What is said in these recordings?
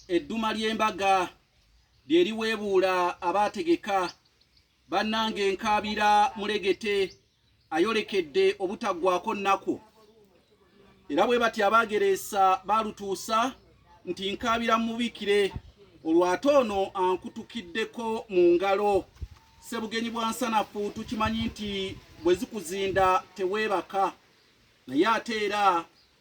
edduma ly'embaga lye liweebuula abaategeka bannange nkaabira mulegete ayolekedde obutaggwako nnaku era bwe bati abaagereesa baalutuusa nti nkaabira mubikire olwate ono ankutukiddeko mu ngalo ssebugenyi bwa nsanafu tukimanyi nti bwe zikuzinda teweebaka naye ate era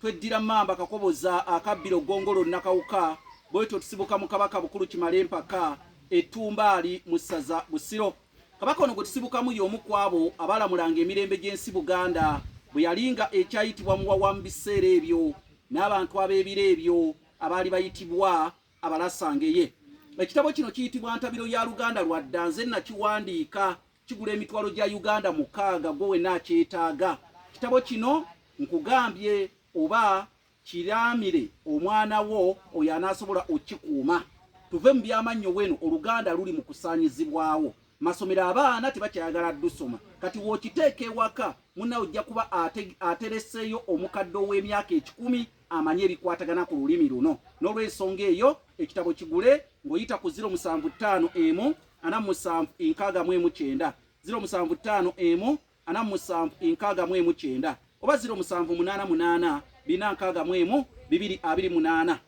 Tweddira Mamba Kakoboza akabbira Ogongolo Nakawuka bwetyo tusibuka mu Kabaka Bukulu Kimale Mpaka Ettumbaali mu ssaza Busiro. Kabaka ono gwe tusibukamu y'omu ku abo abaalamulanga emirembe gy'ensi Buganda bwe yali nga ekyayitibwa Muwawa mu biseera ebyo n'abantu ab'ebiro ebyo abaali bayitibwa Abalasangeye. Ekitabo kino kiyitibwa Ntabiro ya Luganda lwa dda nze nakiwandiika Kigula emitwalo gya Uganda mukaaga gwe wena akyetaaga. Kitabo kino nkugambye oba kiraamire omwana wo oyo anaasobola okikuuma. Tuve mu byamannyo weno Oluganda luli mu kusaanyizibwawo. Masomero abaana tebakyayagala dusoma. Kati w'okiteeka ewaka munnawe ojja kuba atereseeyo omukadde ow'emyaka ekikumi amanye ebikwatagana ku lulimi luno. N'olwensonga eyo ekitabo kigule ng'oyita ku ziro musanvu ttaano emu. ana musanvu enkaaga mu emu kyenda ziro musanvu ttaano emu ana musanvu enkaaga mu emu kyenda oba ziro musanvu munaana munaana bina nkaaga mu emu bibiri abiri munaana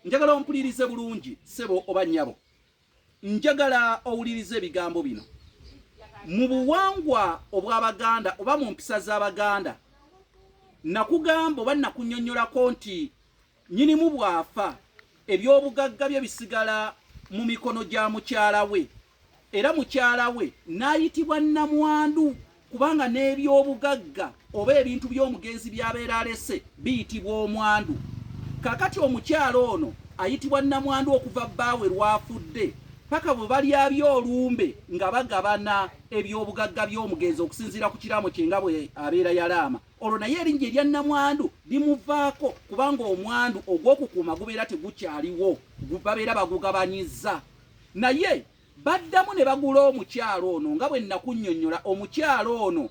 njagala ompulirize bulungi sebo oba nyabo njagala owulirize ebigambo bino mu buwangwa obw'abaganda oba mu mpisa z'abaganda nakugamba oba nakunyonyolako nti Nnyinimu bw'afa, ebyobugagga bye bisigala mu mikono gya mukyala we era mukyala we n'ayitibwa nnamwandu kubanga n'ebyobugagga oba ebintu by'omugenzi by'abeera alese biyitibwa omwandu. Kaakati omukyala ono ayitibwa nnamwandu okuva bbaawe lw'afudde paka bwe balyabya olumbe nga bagabana ebyobugagga by'omugenzi okusinziira ku kiraamo kye nga bwe abeera yalaama. olwo naye erinnya erya nnamwandu limuvaako kubanga omwandu ogw'okukuuma gubeera tegukyaliwo babeera bagugabanyiza naye baddamu ne bagula omukyalo ono nga bwe nnakunnyonnyola omukyalo ono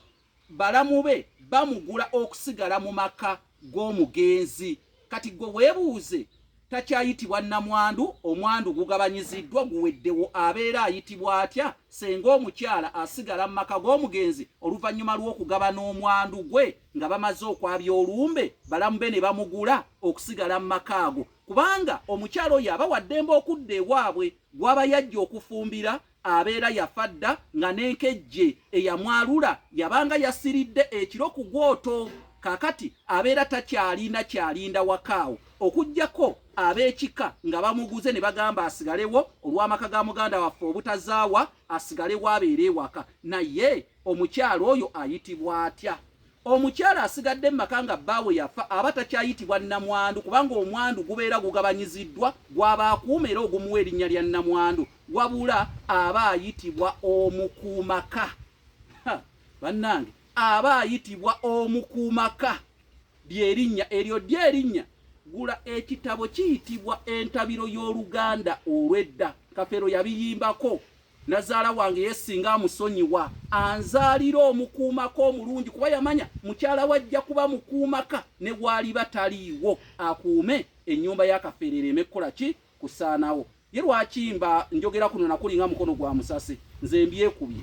balamu be bamugula okusigala mu maka g'omugenzi kati gwe webuuze takyayitibwa namwandu omwandu gugabanyiziddwa guweddewo abeera ayitibwa atya senga omukyala asigala mu maka g'omugenzi oluvannyuma lw'okugabana omwandu gwe nga bamaze okwabya olumbe balamu be ne bamugula okusigala mu maka ago kubanga omukyala oyo aba waddembe okudda ewaabwe gwaba yajja okufumbira abeera yafa dda nga n'enkejje eyamwalula yabanga yasiridde ekiro ku gwoto kakati abeera takyalina kyalinda wakaawo okugyako ab'ekika nga bamuguze ne bagamba asigalewo olw'amaka ga muganda waffe obutazaawa asigalewo abeere ewaka naye omukyalo oyo ayitibwa atya Omukyala asigadde mu maka nga bbaawe yafa aba takyayitibwa nnamwandu kubanga omwandu gubeera gugabanyiziddwa gw'aba akuuma era ogumuwa erinnya lya nnamwandu wabula aba ayitibwa omukuumaka. Bannange aba ayitibwa omukuumaka ly'erinnya eryo ddyo erinnya gula ekitabo kiyitibwa entabiro y'oluganda olw'edda kafeero yabiyimbako. Nazaala wange ye singa amusonyiwa anzaalira omukuumaka omulungi kuba yamanya mukyala we ajja kuba mukuumaka ne waaliba taliiwo akuume ennyumba y'akafeere ereeme kukola ki kusaanawo. Ye lwaki mba njogera kuno nakuli nga mukono gwa musasi nze mbyekubye.